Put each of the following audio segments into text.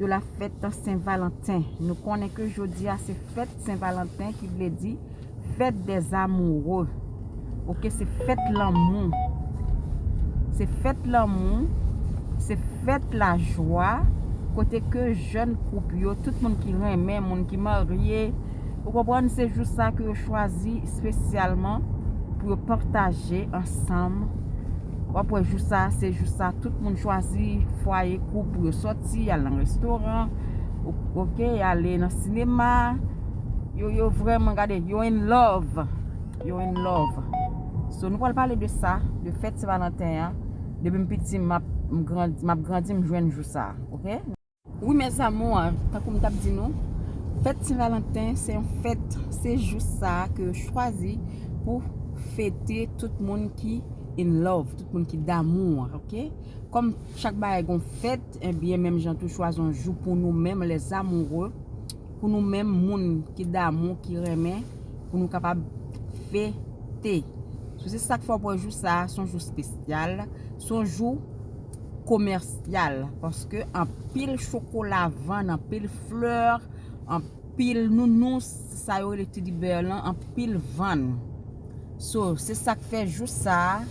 de la fête Saint Valentin nou konnen ke jodi a se fête Saint Valentin ki vle di fête des amoureux ok se fête lanmou se fête lanmou se fête la joie kote ke jèn koup yo, tout moun ki renmen, moun ki marye, ou konprann se jou sa ke yo chwazi spesyalman pou yo pataje ansanm. Wap wè jou sa se jou sa tout moun chwazi fwaye koup pou yo soti al nan restoran ok ale nan sinema yo yo vreman gade yo in love yo in love so nou pral pale de sa de fèt se valanten an depi m piti map grandi map grandi m jwenn jou sa ok. Wi mes amours tankou m tap di nou fèt Sen Valanten se yon fèt se jou sa ke yo chwazi pou fete tout moun ki in love tout moun ki damou an ok kòm chak bagay gon fèt ebyen menm jan tou chwazi yon jou pou nou menm les amoureux pou nou menm moun ki damou ki renmen pou nou kapab fete sou se sak fè wap wè jou sa son jou spesyal son jou komèsyal paske anpil chokola vann anpil fleur anpil nounous sa yo rele teddy bear lan anpil vann so se sak fè jou sa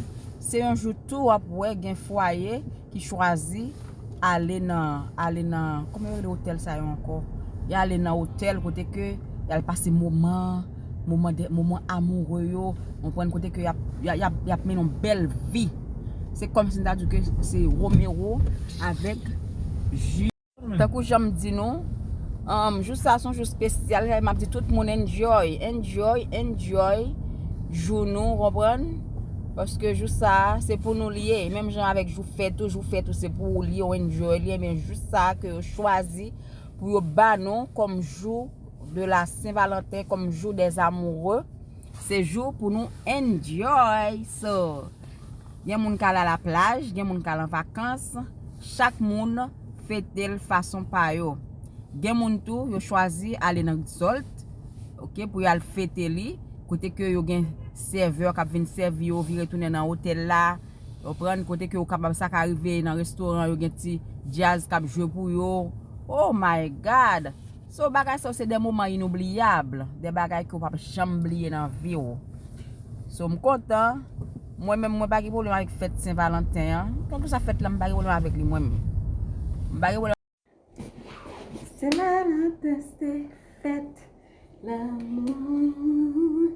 se yon jou tou wap wè gen fwaye ki chwazi ale nan ale nan kòman yo rele otèl sa yo ankò yale nan otèl kote ke yal pase moman moman amoure yo, ou konprann kote ke y ap mennen yon bèl vi. Se kòm si m ta di w ke se Romero avèk Julie. Tankou jan m di nou, jou sa a se yon jou spesyal, m ap di tout moun enjoy, enjoy, enjoy jou nou, ou konprann, paske jou sa a se pou nou li ye, menm jan avèk jou fèt ou, jou fèt ou se pou ou li ye, ou enjoy li, enben jou sa a ke yo chwazi pou yo ba nou kòm jou de la sen valanten kom jou des amoureux se jou pou nou enjoy so gen moun kal a la plaj gen moun kal an vakans chak moun fetel fason pa yo gen moun tou yo chwazi ale nan rezolt ok pou yal fete li kote ke yo gen sèvè kap vin sèvi yo vire tounen nan otèl la ou pran kote ke ou kapab sa ka rive nan restoran yo gen ti djaz kap jwe pou yo oh my god So bagay sa yo se de moman inoubliyab, de bagay ke w pap janm bliye nan vi w. So m kontan, mwen menm mwen pa gen pwoblèm avèk fèt Sen Valanten an, kèlkeswa fèt la m pa gen pwoblèm avèk li mwen menm. M pa gen pwoblèm. Sen Valanten se fèt lanmou.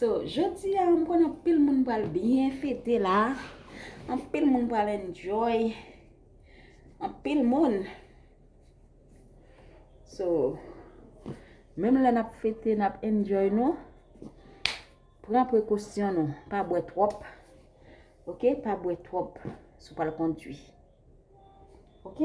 So, jodi a m konnen anpil moun pral byen fete la. Anpil moun pral enjoy. Anpil moun. So, menm lè n ap fete, n ap enjoy nou. Pran prekosyon nou. Pa bwè twòp. Ok? Pa bwè twòp. Sou pral kondwi. Ok?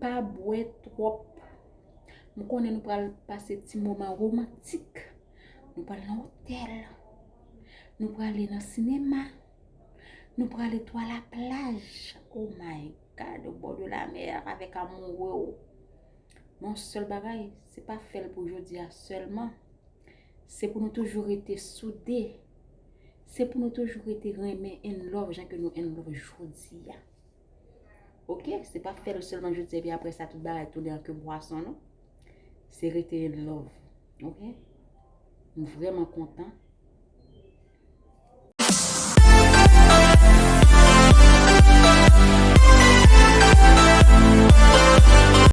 Pa bwè twòp. M konnen nou pral pase ti moman romantik. Nou pral nan otèl. Nou prale nan sinema. Nou prale tou a la plaj. Oh my God, au bord de la mer avèk amoure w. Men yon sèl bagay, se pa fè l pou jodi a sèlman. Se pou nou toujou rete soude. Se pou nou toujou rete renmen in love jan ke nou in love jodi a. Ok, se pa fèl selman jodi epi apre sa tout bagay tounen an ke bwason non. Se rete in love. Ok? M vreman kontan.